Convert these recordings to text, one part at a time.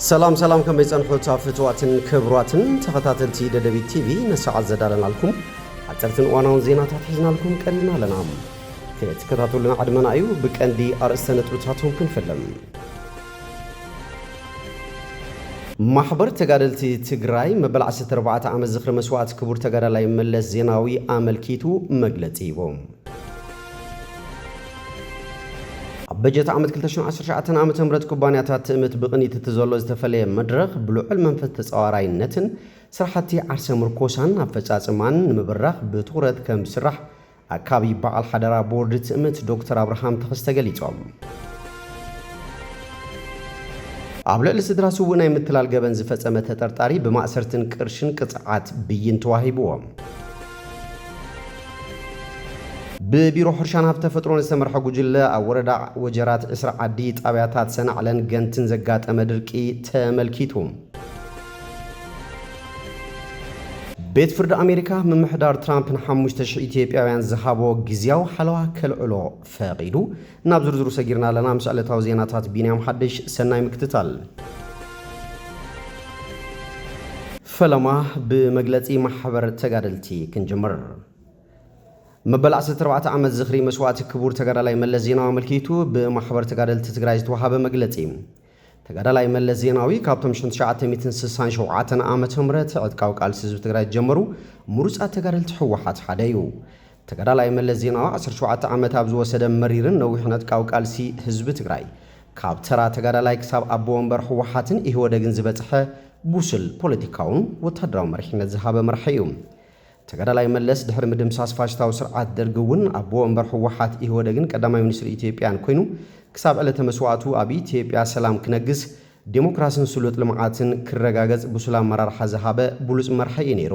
ሰላም ሰላም ከመይ ጸንሑታ ፍትዋትን ክብሯትን ተኸታተልቲ ደደቢት ቲቪ ንሰዓት ዘዳለናልኩም ሓጸርትን እዋናውን ዜናታት ሒዝናልኩም ቀሪብና ኣለና ክትከታተሉና ዕድመና እዩ ብቀንዲ ኣርእስተ ነጥብታቶም ክንፍልም ማሕበር ተጋደልቲ ትግራይ መበል 14 ዓመት ዝኽሪ መስዋእቲ ክቡር ተጋዳላይ መለስ ዜናዊ ኣመልኪቱ መግለጺ ሂቦም ኣብ በጀት ዓመት ክልተ ሽሕን ዓሰርተ ትሽዓተን ዓመተ ምህረት ኩባንያታት ትእምት ብቕኒት እቲ ዘሎ ዝተፈለየ መድረኽ ብልዑል መንፈስ ተፃዋራይነትን ስራሕቲ ዓርሰ ምርኮሳን ኣፈፃፅማን ንምብራኽ ብትኹረት ከምዝስራሕ ኣካቢ በዓል ሓደራ ቦርድ ትእምት ዶክተር ኣብርሃም ተኸስተ ገሊፆም። ኣብ ልዕሊ ስድራ ስውእ ናይ ምትላል ገበን ዝፈፀመ ተጠርጣሪ ብማእሰርትን ቅርሽን ቅፅዓት ብይን ተዋሂብዎ። ብቢሮ ሕርሻን ሃፍቲ ተፈጥሮን ዝተመርሐ ጉጅለ ኣብ ወረዳ ወጀራት ዕስራ ዓዲ ጣብያታት ሰናዕለን ገንትን ዘጋጠመ ድርቂ ተመልኪቱ። ቤት ፍርዲ ኣሜሪካ ምምሕዳር ትራምፕ ንሓሙሽተ ሽሕ ኢትዮጵያውያን ዝሃቦ ግዝያዊ ሓለዋ ከልዕሎ ፈቒዱ፣ ናብ ዝርዝሩ ሰጊርና ኣለና ምስ ዕለታዊ ዜናታት ቢንያም ሓድሽ፣ ሰናይ ምክትታል። ፈለማ ብመግለጺ ማሕበር ተጋደልቲ ክንጅምር። መበል ዓሰርተ ኣርባዕተ ዓመት ዝኽሪ መስዋእቲ ክቡር ተጋዳላይ መለስ ዜናዊ ኣመልኪቱ ብማሕበር ተጋደልቲ ትግራይ ዝተውሃበ መግለጺ። ተጋዳላይ መለስ ዜናዊ ካብቶም ሽሕን ትሽዓተ ሚእትን ስሳን ሸውዓተን ዓመተ ምህረት ዕጥቃዊ ቃልሲ ህዝቢ ትግራይ ዝጀመሩ ምሩፃት ተጋደልቲ ህወሓት ሓደ እዩ። ተጋዳላይ መለስ ዜናዊ ዓሰርተ ሸውዓተ ዓመት ኣብ ዝወሰደ መሪርን ነዊሕን ዕጥቃዊ ቃልሲ ህዝቢ ትግራይ ካብ ተራ ተጋዳላይ ክሳብ ኣቦ ወንበር ህወሓትን ኢህወደግን ዝበፅሐ ብሱል ፖለቲካውን ወታደራዊ መሪሕነት ዝሃበ መራሒ እዩ። ተጋዳላይ መለስ ድሕሪ ምድምሳስ ፋሽስታዊ ስርዓት ደርጊ እውን ኣቦ ወንበር ህወሓት ኢህወደግን ቀዳማይ ሚኒስትር ኢትዮጵያን ኮይኑ ክሳብ ዕለተ መስዋእቱ ኣብ ኢትዮጵያ ሰላም ክነግስ፣ ዴሞክራስን ስሉጥ ልምዓትን ክረጋገፅ ብሱል ኣመራርሓ ዝሃበ ብሉፅ መራሒ እዩ ነይሩ።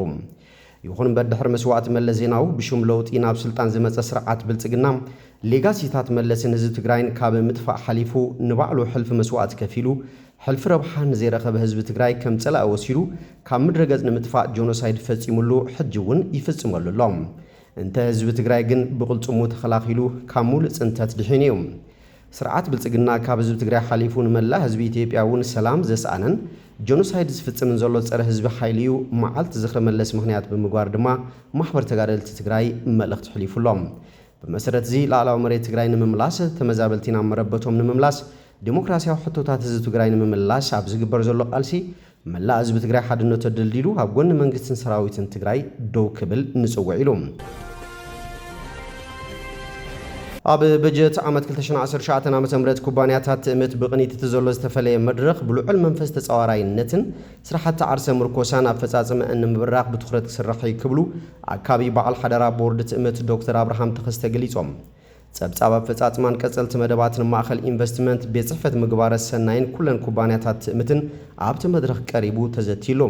ይኹን እምበር ድሕሪ መስዋእቲ መለስ ዜናዊ ብሽም ለውጢ ናብ ስልጣን ዝመፀ ስርዓት ብልፅግና ሌጋሲታት መለስን ህዝቢ ትግራይን ካብ ምጥፋእ ሓሊፉ ንባዕሉ ሕልፊ መስዋእቲ ከፊሉ ሕልፊ ረብሓ ንዘይረኸበ ህዝቢ ትግራይ ከም ፀላኢ ወሲዱ ካብ ምድረ ገፅ ንምጥፋእ ጆኖሳይድ ፈፂሙሉ ሕጂ እውን ይፍፅመሉ ኣሎ። እንተ ህዝቢ ትግራይ ግን ብቕልፅሙ ተኸላኺሉ ካብ ሙሉእ ፅንተት ድሒኑ እዩ። ስርዓት ብልፅግና ካብ ህዝቢ ትግራይ ሓሊፉ ንመላእ ህዝቢ ኢትዮጵያ እውን ሰላም ዘስኣነን ጆኖሳይድ ዝፍፅምን ዘሎ ፀረ ህዝቢ ሓይሊ እዩ። መዓልቲ ዝኽሪ መለስ ምኽንያት ብምግባር ድማ ማሕበር ተጋደልቲ ትግራይ መልእኽቲ ሕሊፉ ኣሎ። ብመሰረት'ዚ ላእላዊ መሬት ትግራይ ንምምላስ፣ ተመዛበልቲ ናብ መረበቶም ንምምላስ፣ ዴሞክራሲያዊ ሕቶታት ህዝቢ ትግራይ ንምምላስ ኣብ ዝግበር ዘሎ ቃልሲ መላእ ህዝቢ ትግራይ ሓድነቱ ኣደልዲሉ ኣብ ጎኒ መንግስትን ሰራዊትን ትግራይ ደው ክብል ንፅውዕ ኢሉ። ኣብ በጀት ዓመት ክልተ ሽሕን ዓሰርተ ትሽዓተን ዓመተ ምህረት ኩባንያታት ትእምት ብቕኒት እቲ ዘሎ ዝተፈለየ መድረኽ ብልዑል መንፈስ ተፃዋራይነትን፣ ስራሕቲ ዓርሰ ምርኮሳን ኣፈፃፅመእን ንምብራኽ ብትኹረት ክስራሕ ኢዩ ክብሉ ኣካቢ በዓል ሓደራ ቦርድ ትእምት ዶክተር ኣብርሃም ተኸስተ ገሊፆም። ፀብፃብ ኣፈፃፅማን ቀፀልቲ መደባትን ማእኸል ኢንቨስትመንት፣ ቤት ፅሕፈት ምግባረ ሰናይን ኩለን ኩባንያታት ትእምትን ኣብቲ መድረኽ ቀሪቡ ተዘትይሉ።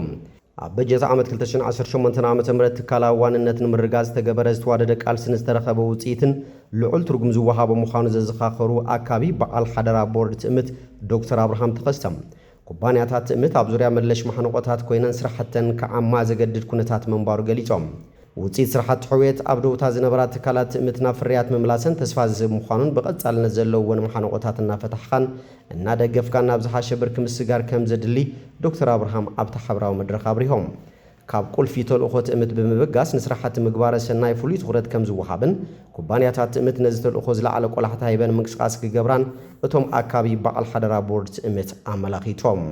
ኣብ በጀት ዓመት ክልተ ሽሕን ዓሰርተ ሸሞንተን ዓመተ ምህረት ትካላዊ ዋንነት ንምርግጋፅ ዝተገበረ ዝተዋደደ ቃልሲን ዝተረኸበ ውፅኢትን ልዑል ትርጉም ዝወሃቦ ምዃኑ ዘዘኻኸሩ ኣካቢ በዓል ሓደራ ቦርድ ትእምት ዶክተር ኣብርሃም ተኸስተ ኩባንያታት ትእምት ኣብ ዙርያ መለሽ ማሕንቖታት ኮይነን ስራሕተን ክዓማ ዘገድድ ኩነታት ምንባሩ ገሊፆም። ውፅኢት ስራሕቲ ሕውየት ኣብ ደውታ ዝነበራ ትካላት ትእምት ናብ ፍርያት ምምላሰን ተስፋ ዝህብ ምዃኑን ብቐፃልነት ዘለውወን ማሕንቖታት እናፈታሕኻን እናደገፍካን ናብ ዝሓሸ ብርኪ ምስግጋር ከምዘድሊ ዶክተር ኣብርሃም ኣብቲ ሓበራዊ መድረኽ ኣብሪሆም። ካብ ቁልፊ ተልእኾ ትእምት ብምብጋስ ንስራሕቲ ምግባረ ሰናይ ፍሉይ ትኹረት ከምዝወሃብን ኩባንያታት ትእምት ነዚ ተልእኾ ዝለዓለ ቆላሕታ ሂበን ምንቅስቓስ ክገብራን እቶም ኣካቢ በዓል ሓደራ ቦርድ ትእምት ኣመላኺቶም።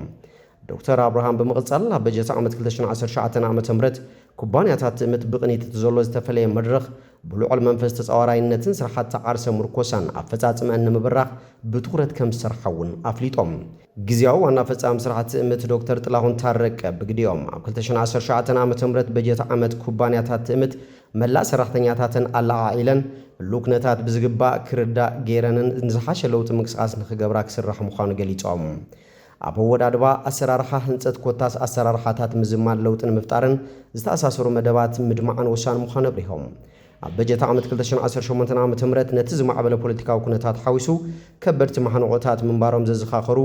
ዶክተር ኣብርሃም ብምቕፃል ኣብ በጀት ዓመት ክልተ ሽሕን ዓሰርተ ትሽዓተን ዓመተ ምህረት ኩባንያታት ትእምት ብቕኒት እቲ ዘሎ ዝተፈለየ መድረኽ ብልዑል መንፈስ ተጻዋራይነትን ስራሕቲ ዓርሰ ምርኮሳን ኣፈጻጽመኣን ንምብራኽ ብትኹረት ከምዝሰርሓ እውን ኣፍሊጦም። ግዝያዊ ዋና ፈጻሚ ስራሕ ትእምት ዶክተር ጥላሁን ታረቀ ብግዲኦም፣ ኣብ ክልተ ሽሕን ዓሰርተ ሸውዓተን ዓመተ ምህረት በጀት ዓመት ኩባንያታት ትእምት መላእ ሰራሕተኛታተን ኣለዓዒለን ህሉው ኩነታት ብዝግባእ ክርዳእ ገይረንን ንዝሓሸ ለውጢ ምንቅስቓስ ንኽገብራ ክስራሕ ምዃኑ ገሊፆም። ኣብ ኣወዳድባ፣ ኣሰራርሓ ህንፀት ኮታስ ኣሰራርሓታት ምዝማድ ለውጥን ምፍጣርን ዝተኣሳሰሩ መደባት ምድማዕን ወሳኒ ምዃኑ ኣብሪሆም። ኣብ በጀት ዓመት ክልተ ሽሕን ዓሰርተ ሸሞንተን ዓመተ ምህረት ነቲ ዝማዕበለ ፖለቲካዊ ኩነታት ሓዊሱ ከበድቲ ማሕንቖታት ምንባሮም ዘዘኻኸሩ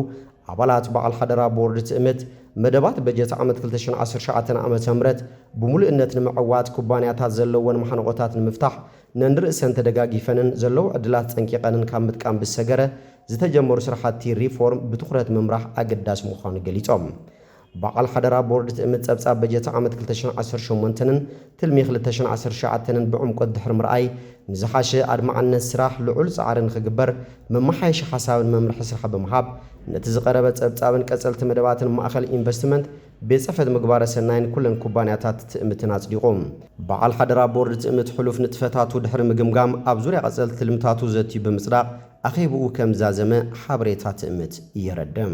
ኣባላት በዓል ሓደራ ቦርድ ትእምት፣ መደባት በጀት ዓመት ክልተ ሽሕን ዓሰርተ ትሽዓተን ዓመተ ምህረት ብሙሉእነት ንምዕዋት ኩባንያታት ዘለወን ማሕንቖታት ንምፍታሕ ነንርእሰን ተደጋጊፈንን ዘለዉ ዕድላት ጸንቂቐንን ካብ ምጥቃም ብዝሰገረ ዝተጀመሩ ስራሕቲ ሪፎርም ብትኹረት ምምራሕ ኣገዳሲ ምዃኑ ገሊጾም። በዓል ሓደራ ቦርድ ትእምት ጸብጻብ በጀት ዓመት ክልተ ሽሕን ዓሰርተ ሸሞንተንን ትልሚ ክልተ ሽሕን ዓሰርተ ትሽዓተንን ብዕምቆት ድሕሪ ምርኣይ ንዝሓሸ ኣድማዕነት ስራሕ ልዑል ጻዕሪ ንኽግበር መመሓየሺ ሓሳብን መምርሒ ስራሕ ብምሃብ ነቲ ዝቐረበ ጸብጻብን ቀጸልቲ መደባትን ማእኸል ኢንቨስትመንት ቤት ፅሕፈት ምግባረ ሰናይን ኩለን ኩባንያታት ትእምትን ኣፅዲቑ። በዓል ሓደራ ቦርድ ትእምት ሕሉፍ ንጥፈታቱ ድሕሪ ምግምጋም ኣብ ዙርያ ቐፀልቲ ትልምታቱ ዘትዩ ብምፅዳቕ ኣኼብኡ ከም ዛዘመ ሓበሬታ ትእምት የረድእ።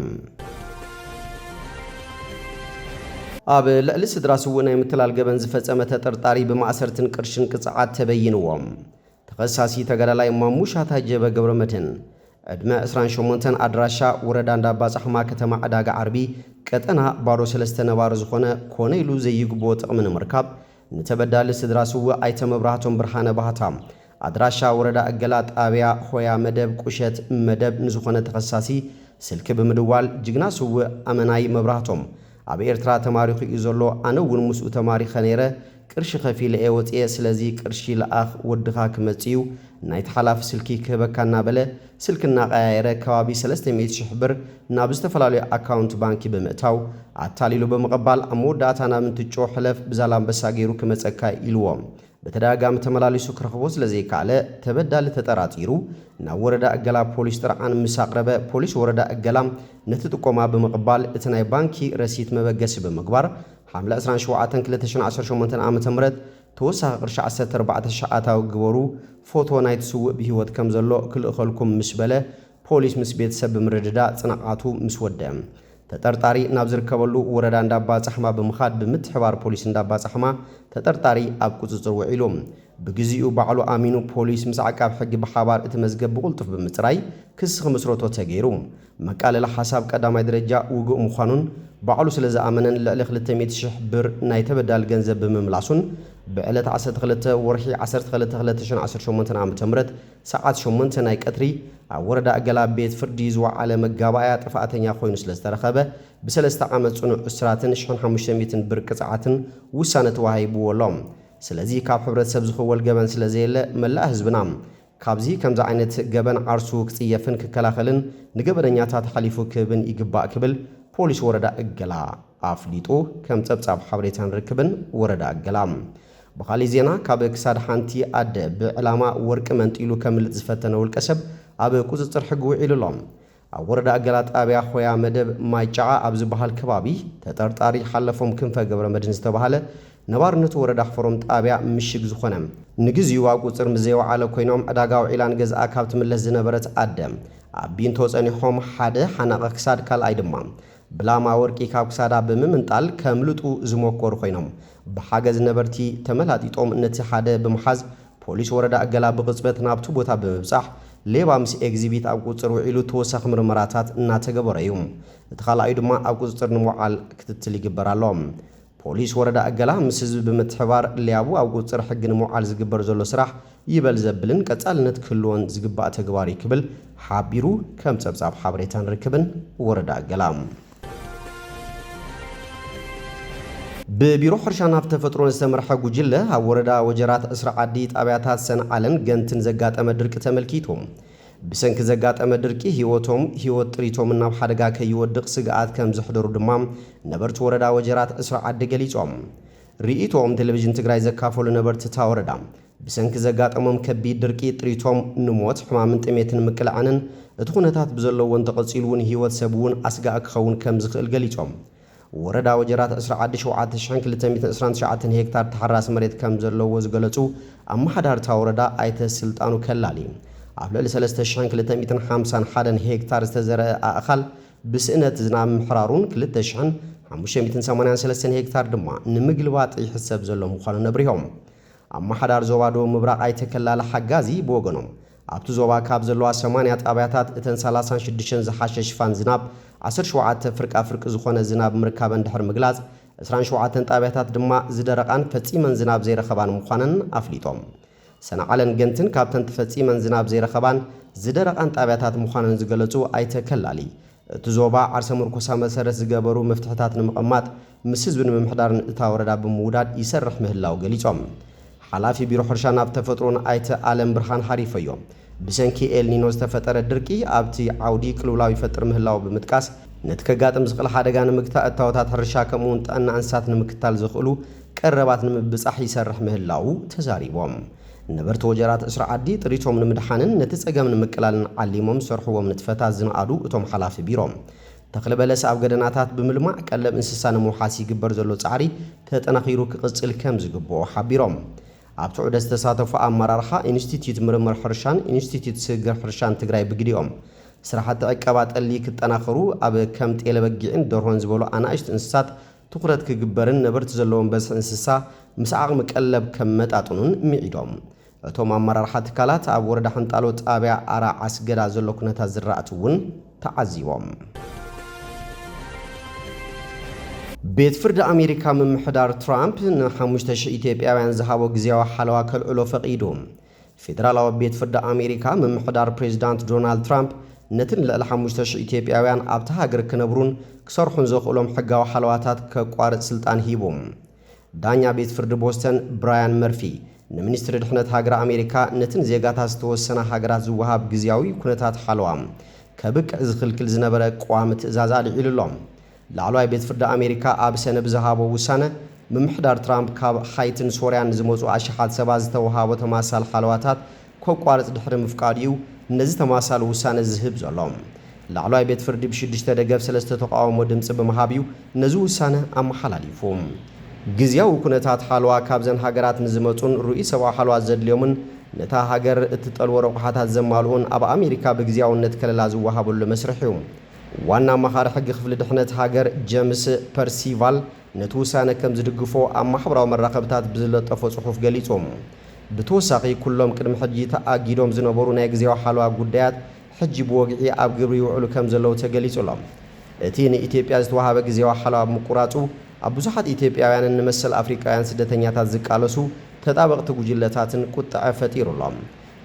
ኣብ ልዕሊ ስድራ ስዉእ ናይ ምትላል ገበን ዝፈፀመ ተጠርጣሪ ብማእሰርትን ቅርሽን ቅፅዓት ተበይንዎም። ተኸሳሲ ተጋዳላይ ማሙሻ ታጀበ ገብረመድህን ዕድመ ዕስራን ሸሞንተን ኣድራሻ ወረዳ እንዳባጻሕማ ከተማ ዕዳጋ ዓርቢ ቀጠና ባሮ ሰለስተ ነባሪ ዝኾነ ኮነ ኢሉ ዘይግብኦ ጥቕሚ ንምርካብ ንተበዳሊ ስድራ ስውእ ኣይተ መብራህቶም ብርሃነ ባህታ ኣድራሻ ወረዳ እገላ ጣብያ ሆያ መደብ ቁሸት መደብ ንዝኾነ ተኸሳሲ ስልኪ ብምድዋል ጅግና ስውእ ኣመናይ መብራህቶም ኣብ ኤርትራ ተማሪኹ እዩ ዘሎ ኣነ እውን ምስኡ ተማሪኸ ነይረ ቅርሺ ከፊለ እየ ወጽየ ስለዚ ቅርሺ ልኣኽ ወድኻ ክመጽእ እዩ ናይቲ ሓላፊ ስልኪ ክህበካ እናበለ ስልኪ እናቀያየረ ከባቢ ሰለስተ ሚእቲ ሽሕ ብር ናብ ዝተፈላለዩ ኣካውንት ባንኪ ብምእታው ኣታሊሉ ብምቕባል ኣብ መወዳእታ ናብ እንትጮ ሕለፍ ብዛላምበሳ ገይሩ ክመጸካ እዩ ኢልዎ ብተደጋጋሚ ተመላሊሱ ክረኽቦ ስለዘይከኣለ ተበዳሊ ተጠራጢሩ ናብ ወረዳ እገላ ፖሊስ ጥርዓን ምስ ኣቕረበ ፖሊስ ወረዳ እገላ ነቲ ጥቆማ ብምቕባል እቲ ናይ ባንኪ ረሲት መበገሲ ብምግባር ሓምለ ዕስራን ሸውዓተን ክልተ ሽሕን ዓሰርተ ሸሞንተን ዓ ም ተወሳኺ ቅርሺ ዓሰርተ ኣርባዕተ ሽሕ ኣታዊ ግበሩ ፎቶ ናይቲ ስውእ ብህይወት ከምዘሎ ክልእኸልኩም ምስ በለ ፖሊስ ምስ ቤተሰብ ብምርድዳእ ፅንዓቱ ምስ ወደእ ተጠርጣሪ ናብ ዝርከበሉ ወረዳ እንዳባፃሕማ ብምኻድ ብምትሕባር ፖሊስ እንዳባፃሕማ ተጠርጣሪ ኣብ ቁፅፅር ውዒሉ ብግዚኡ ባዕሉ ኣሚኑ ፖሊስ ምስ ዓቃብ ሕጊ ብሓባር እቲ መዝገብ ብቁልጡፍ ብምፅራይ ክሲ ክምስረቶ ተገይሩ መቃለሊ ሓሳብ ቀዳማይ ደረጃ ውግእ ምዃኑን ባዕሉ ስለዝኣመነን ልዕሊ ክልተ ሚእቲ ሽሕ ብር ናይ ተበዳሊ ገንዘብ ብምምላሱን ብዕለት ዓሰርተ ክልተ ወርሒ ዓሰርተ ክልተ ክልተ ሽሕን ዓሰርተ ሸሞንተን ዓመተ ምህረት ሰዓት ሸሞንተ ናይ ቀትሪ ኣብ ወረዳ እገላ ቤት ፍርዲ ዝወዓለ መጋባእያ ጥፍኣተኛ ኮይኑ ስለ ዝተረኸበ ብሰለስተ ዓመት ፅኑዕ እስራትን ሽሕን ሓሙሽተ ሚእትን ብር ቅፅዓትን ውሳነ ተዋሂብዎ ኣሎ። ስለዚ ካብ ሕብረተሰብ ዝኽወል ገበን ስለ ዘየለ መላእ ህዝብና ካብዚ ከምዚ ዓይነት ገበን ዓርሱ ክፅየፍን ክከላኸልን ንገበነኛታት ሓሊፉ ክህብን ይግባእ ክብል ፖሊስ ወረዳ እገላ ኣፍሊጡ ከም ፀብፃብ ሓበሬታን ርክብን ወረዳ እገላ ብኻሊእ ዜና ካብ ክሳድ ሓንቲ ኣደ ብዕላማ ወርቂ መንጢሉ ከምልጥ ዝፈተነ ውልቀሰብ ኣብ ቁፅፅር ሕጊ ውዒሉ ኣሎ። ኣብ ወረዳ ገላ ጣብያ ሆያ መደብ ማይ ጨዓ ኣብ ዝብሃል ከባቢ ተጠርጣሪ ሓለፎም ክንፈ ገብረመድህን ዝተብሃለ ነባርነቱ ወረዳ ሕፎሮም ጣብያ ምሽግ ዝኾነ ንግዚኡ ኣብ ቁፅፅር ምስ ዘይወዓለ ኮይኖም ዕዳጋ ውዒላ ንገዝኣ ካብ ትምለስ ዝነበረት ኣደ ኣብ ቢንቶ ፀኒሖም ሓደ ሓናቒ ክሳድ ካልኣይ ድማ ብላማ ወርቂ ካብ ክሳዳ ብምምንጣል ከምልጡ ዝሞከሩ ኮይኖም፣ ብሓገዝ ነበርቲ ተመላጢጦም ነቲ ሓደ ብምሓዝ ፖሊስ ወረዳ እገላ ብቕፅበት ናብቲ ቦታ ብምብፃሕ ሌባ ምስ ኤግዚቢት ኣብ ቁፅፅር ውዒሉ ተወሳኺ ምርመራታት እናተገበረ እዩ። እቲ ካልኣዩ ድማ ኣብ ቁፅፅር ንምውዓል ክትትል ይግበር ኣሎ። ፖሊስ ወረዳ እገላ ምስ ህዝቢ ብምትሕብባር ሌያቡ ኣብ ቁፅፅር ሕጊ ንምውዓል ዝግበር ዘሎ ስራሕ ይበል ዘብልን ቀፃልነት ክህልዎን ዝግባእ ተግባር እዩ ክብል ሓቢሩ ከም ፀብፃብ ሓበሬታን ርክብን ወረዳ እገላ። ብቢሮ ሕርሻን ሃፍቲ ተፈጥሮን ዝተመርሐ ጉጅለ ኣብ ወረዳ ወጀራት ዕስራ ዓዲ ጣብያታት ሰንዓለን ገንትን ዘጋጠመ ድርቂ ተመልኪቱ። ብሰንኪ ዘጋጠመ ድርቂ ህይወቶም፣ ህይወት ጥሪቶምን ናብ ሓደጋ ከይወድቕ ስግኣት ከምዘሕደሩ ድማ ነበርቲ ወረዳ ወጀራት ዕስራ ዓዲ ገሊፆም። ርኢቶኦም ቴሌቪዥን ትግራይ ዘካፈሉ ነበርቲ እታ ወረዳ፣ ብሰንኪ ዘጋጠሞም ከቢድ ድርቂ ጥሪቶም ንሞት፣ ሕማምን ጥሜትን ምቅላዕንን እቲ ኩነታት ብዘለዎ እንተቐፂሉ እውን ህይወት ሰብ እውን ኣስጋኢ ክኸውን ከምዝኽእል ገሊፆም። ወረዳ ወጀራት ዕስራ ዓዲ ሸውዓተ ሽሕን ክልተ ሚእትን ዕስራን ትሽዓተን ሄክታር ተሓራሲ መሬት ከምዘለዎ ዝገለፁ ኣመሓዳሪ እታ ወረዳ ኣይተ ስልጣኑ ከላሊ ኣብ ልዕሊ ሰለስተ ሽሕን ክልተ ሚእትን ሓምሳን ሓደን ሄክታር ዝተዘርአ ኣእኻል ብስእነት ዝናብ ምሕራሩን ክልተ ሽሕን ሓሙሽተ ሚእትን ሰማንያን ሰለስተን ሄክታር ድማ ንምግልባጥ ይሕሰብ ዘሎ ምዃኑን ኣብሪሆም። ኣመሓዳሪ ዞባ ደቡብ ምብራቕ ኣይተ ከላሊ ሓጋዚ ብወገኖም ኣብቲ ዞባ ካብ ዘለዋ ሰማንያ ጣብያታት እተን ሰላሳን ሽዱሽተን ዝሓሸ ሽፋን ዝናብ፣ ዓሰርተ ሸውዓተ ፍርቃ ፍርቂ ዝኾነ ዝናብ ምርካበን ድሕሪ ምግላፅ፣ ዕስራን ሸውዓተን ጣብያታት ድማ ዝደረቓን ፈፂመን ዝናብ ዘይረኸባን ምዃነን ኣፍሊጦም። ሰንዓለን ገንትን ካብተን ተፈፂመን ዝናብ ዘይረኸባን ዝደረቓን ጣብያታት ምዃነን ዝገለፁ ኣይተ ከላሊ፣ እቲ ዞባ ዓርሰ ምርኮሳ መሰረት ዝገበሩ መፍትሕታት ንምቕማጥ ምስ ህዝቢ ንምምሕዳርን እታ ወረዳ ብምውዳድ ይሰርሕ ምህላው ገሊፆም። ሓላፊ ቢሮ ሕርሻን ሃፍቲ ተፈጥሮን ኣይተ ኣለምብርሃን ሃሪፈዮ ብሰንኪ ኤልኒኖ ዝተፈጠረ ድርቂ ኣብቲ ዓውዲ ቅልውላው ይፈጥር ምህላው ብምጥቃስ ነቲ ከጋጥም ዝኽእል ሓደጋ ንምግታእ እታወታት ሕርሻ ከምኡ እውን ጥዕና እንስሳት ንምክታል ዘኽእሉ ቀረባት ንምብፃሕ ይሰርሕ ምህላው ተዛሪቦም። ነበርቲ ወጀራት ዕስራ ዓዲ ጥሪቶም ንምድሓንን ነቲ ፀገም ንምቅላልን ዓሊሞም ዝሰርሕዎም ንጥፈታት ዝነኣዱ እቶም ሓላፊ ቢሮ፣ ተኽሊ በለስ ኣብ ገደናታት ብምልማዕ ቀለብ እንስሳ ንምውሓስ ይግበር ዘሎ ፃዕሪ ተጠናኺሩ ክቕፅል ከምዝግበኦ ሓቢሮም። ኣብቲ ዑደት ዝተሳተፉ ኣመራርሓ ኢንስቲትዩት ምርምር ሕርሻን ኢንስቲትዩት ስግግር ሕርሻን ትግራይ ብግዲኦም፣ ስራሕቲ ዕቀባ ጠሊ ክጠናኸሩ ኣብ ከም ጤለ በጊዕን ደርሆን ዝበሉ ኣናእሽቲ እንስሳት ትኹረት ክግበርን ነበርቲ ዘለዎም በዝሒ እንስሳ ምስ ዓቕሚ ቀለብ ከመጣጥኑን ምዒዶም። እቶም ኣመራርሓ ትካላት ኣብ ወረዳ ሕንጣሎ ጣብያ ኣራ ዓስገዳ ዘሎ ኩነታት ዝራእቲ እውን ተዓዚቦም። ቤት ፍርዲ ኣሜሪካ ምምሕዳር ትራምፕ ንሓሙሽተ ሽሕ ኢትዮጵያውያን ዝሃቦ ግዝያዊ ሓለዋ ከልዕሎ ፈቒዱ። ፌደራላዊ ቤት ፍርዲ ኣሜሪካ፣ ምምሕዳር ፕሬዚዳንት ዶናልድ ትራምፕ ነቲ ንልዕሊ ሓሙሽተ ሽሕ ኢትዮጵያውያን ኣብታ ሃገር ክነብሩን ክሰርሑን ዘኽእሎም ሕጋዊ ሓለዋታት ከቋርጽ ስልጣን ሂቡ። ዳኛ ቤት ፍርዲ ቦስተን ብራያን መርፊ፣ ንሚኒስትሪ ድሕነት ሃገረ ኣሜሪካ ነቲ ንዜጋታት ዝተወሰና ሃገራት ዝወሃብ ግዝያዊ ኩነታት ሓለዋ ከብቅዕ ዝኽልክል ዝነበረ ቀዋሚ ትእዛዝ ኣልዒሉ'ሎ። ላዕለዋይ ቤት ፍርዲ ኣሜሪካ ኣብ ሰነ ብዝሃቦ ውሳነ፣ ምምሕዳር ትራምፕ ካብ ሃይቲን ሶርያን ዝመጹ ኣሽሓት ሰባት ዝተወሃቦ ተማሳል ሓለዋታት ከቋርጽ ድሕሪ ምፍቃዱ'ዩ ነዚ ተማሳሊ ውሳነ ዝህብ ዘሎ። ላዕለዋይ ቤት ፍርዲ ብሽዱሽተ ደገፍ ሰለስተ ተቓውሞ ድምጺ ብምሃብ'ዩ ነዚ ውሳነ ኣመሓላሊፉ። ግዝያዊ ኩነታት ሓለዋ ካብዘን ሃገራት ንዝመጹን ርኡይ ሰብኣዊ ሓለዋ ዘድልዮምን ነታ ሃገር እትጠልቦ ረቑሓታት ዘማልኡን ኣብ ኣሜሪካ ብግዝያውነት ከለላ ዝወሃበሉ መስርሕ'ዩ። ዋና ኣማኻሪ ሕጊ ክፍሊ ድሕነት ሃገር ጀምስ ፐርሲቫል ነቲ ውሳነ ከም ዝድግፎ ኣብ ማሕበራዊ መራኸብታት ብዝለጠፎ ጽሑፍ ገሊጹ። ብተወሳኺ ኩሎም ቅድሚ ሕጂ ተኣጊዶም ዝነበሩ ናይ ግዝያዊ ሓለዋ ጉዳያት ሕጂ ብወግዒ ኣብ ግብሪ ይውዕሉ ከም ዘለዉ ተገሊጹ ኣሎ። እቲ ንኢትዮጵያ ዝተወሃበ ግዝያዊ ሓለዋ ብምቁራጹ ኣብ ብዙሓት ኢትዮጵያውያንን ንመሰል ኣፍሪቃውያን ስደተኛታት ዝቃለሱ ተጣበቕቲ ጉጅለታትን ቁጠዐ ፈጢሩ ኣሎ።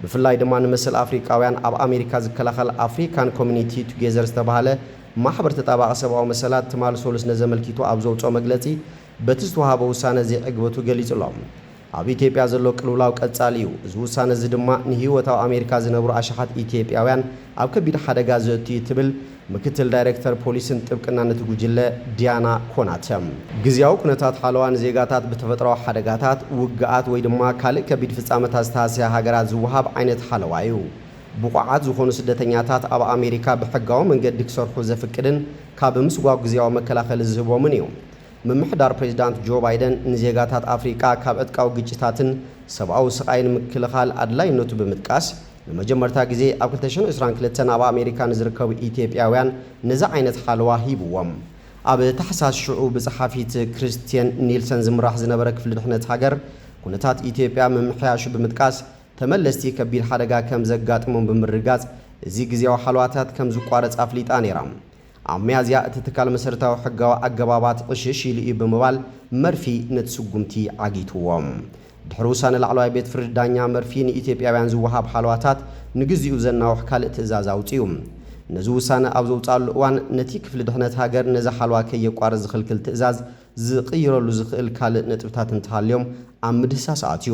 ብፍላይ ድማ ንመሰል ኣፍሪቃውያን ኣብ ኣሜሪካ ዝከላኸል ኣፍሪካን ኮሚኒቲ ቱጌዘር ዝተብሃለ ማሕበር ተጣባቒ ሰብኣዊ መሰላት ትማል ሰሉስ ነዚ ኣመልኪቱ ኣብ ዘውጽኦ መግለጺ በቲ ዝተውሃበ ውሳነ ዘይዕግበቱ ገሊጹ ኣሎ። ኣብ ኢትዮጵያ ዘሎ ቅልውላው ቀጻሊ እዩ፣ እዚ ውሳነ እዚ ድማ ንህይወት ኣብ ኣሜሪካ ዝነብሩ ኣሽሓት ኢትዮጵያውያን ኣብ ከቢድ ሓደጋ ዘእቱ እዩ ትብል ምክትል ዳይሬክተር ፖሊስን ጥብቅናን እቲ ጉጅለ ዲያና ኮናተ፣ ግዝያዊ ኩነታት ሓለዋ ንዜጋታት ብተፈጥሮኣዊ ሓደጋታት፣ ውግኣት ወይ ድማ ካልእ ከቢድ ፍጻመታት ዝተሃስያ ሃገራት ዝወሃብ ዓይነት ሓለዋ እዩ። ብቑዓት ዝኾኑ ስደተኛታት ኣብ ኣሜሪካ ብሕጋዊ መንገዲ ክሰርሑ ዘፍቅድን ካብ ምስጓግ ግዝያዊ መከላኸሊ ዝህቦምን እዩ። ምምሕዳር ፕሬዚዳንት ጆ ባይደን ንዜጋታት ኣፍሪቃ ካብ ዕጥቃዊ ግጭታትን ሰብኣዊ ስቓይን ምክልኻል ኣድላይነቱ ብምጥቃስ፣ ንመጀመርታ ግዜ ኣብ ክልተ ሽሕን ዕስራን ክልተን ኣብ ኣሜሪካ ንዝርከቡ ኢትዮጵያውያን ነዚ ዓይነት ሓለዋ ሂብዎም። ኣብ ታሕሳስ ሽዑ ብጸሓፊት ክርስትየን ኒልሰን ዝምራሕ ዝነበረ ክፍሊ ድሕነት ሃገር ኩነታት ኢትዮጵያ ምምሕያሹ ብምጥቃስ ተመለስቲ ከቢድ ሓደጋ ከምዘጋጥሞም ብምርግጋጽ እዚ ግዝያዊ ሓለዋታት ከምዝቋረጽ ኣፍሊጣ ነይራ። ኣብ ሚያዝያ እቲ ትካል መሰረታዊ ሕጋዊ ኣገባባት ዕሽሽ ኢሉ እዩ ብምባል መርፊ ነቲ ስጉምቲ ዓጊትዎ። ድሕሪ ውሳነ ላዕለዋይ ቤት ፍርዲ ዳኛ መርፊ ንኢትዮጵያውያን ዝወሃብ ሓለዋታት ንግዚኡ ዘናውሕ ካልእ ትእዛዝ ኣውጺኡ። ነዚ ውሳነ ኣብ ዘውጽኣሉ እዋን ነቲ ክፍሊ ድሕነት ሃገር ነዚ ሓለዋ ከየቋርጽ ዝኽልክል ትእዛዝ ዝቕይረሉ ዝኽእል ካልእ ነጥብታት እንተሃልዮም ኣብ ምድህሳስ ኣትዩ።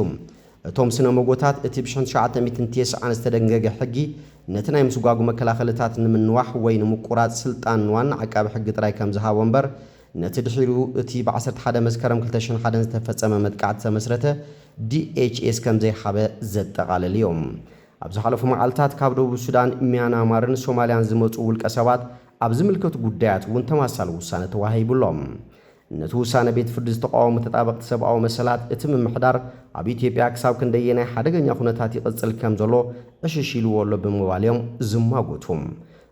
እቶም ስነ-ሞጎታት፣ እቲ ብሽሕን ትሽዓተ ሚእትን ቴስዓን ዝተደንገገ ሕጊ፣ ነቲ ናይ ምስጓጕ መከላኸልታት ንምንዋሕ ወይ ንምቍራጽ ስልጣን ንዋና ዓቃቢ ሕጊ ጥራይ ከም ዝሃቦ እምበር፣ ነቲ ድሒሩ እቲ ብ ዓሰርተ ሓደ መስከረም ክልተ ሽሕን ሓደን ዝተፈጸመ መጥቃዕቲ ዝተመስረተ ዲኤችኤስ ከም ዘይሃበ ዘጠቓልል እዩ። ኣብ ዝሓለፉ መዓልታት ካብ ደቡብ ሱዳን፣ ሚያናማርን ሶማልያን ዝመጹ ውልቀሰባት ኣብ ዝምልከቱ ጉዳያት እውን ተማሳሊ ውሳነ ተዋሂቡ ኣሎ። ነቲ ውሳነ ቤት ፍርዲ ዝተቓወሙ ተጣበቕቲ ሰብኣዊ መሰላት፣ እቲ ምምሕዳር ኣብ ኢትዮጵያ ክሳብ ክንደየናይ ሓደገኛ ኩነታት ይቕጽል ከም ዘሎ ዕሽሽ ኢልዎ ኣሎ ብምባል እዮም ዝማጎቱ።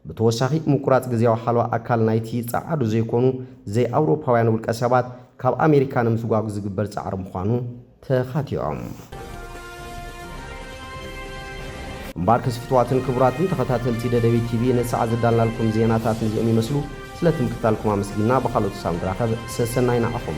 ብተወሳኺ ምቁራጽ ግዝያዊ ሓለዋ ኣካል ናይቲ ጸዓዱ ዘይኮኑ ዘይኣውሮፓውያን ውልቀሰባት ካብ ኣሜሪካ ንምስጓግ ዝግበር ጻዕሪ ምዃኑ ተኻቲዖም። እምባርከስ ፍትዋትን ክቡራትን ተኸታተልቲ ደደቢት ቲቪ ንሳዕ ዘዳልናልኩም ዜናታት ነዚኦም ይመስሉ። ስለቲ ምክትታልኩም ኣመስጊንና ብኻልኦት ክሳብ ንራኸብ ሰሰናዩ ንዓኹም።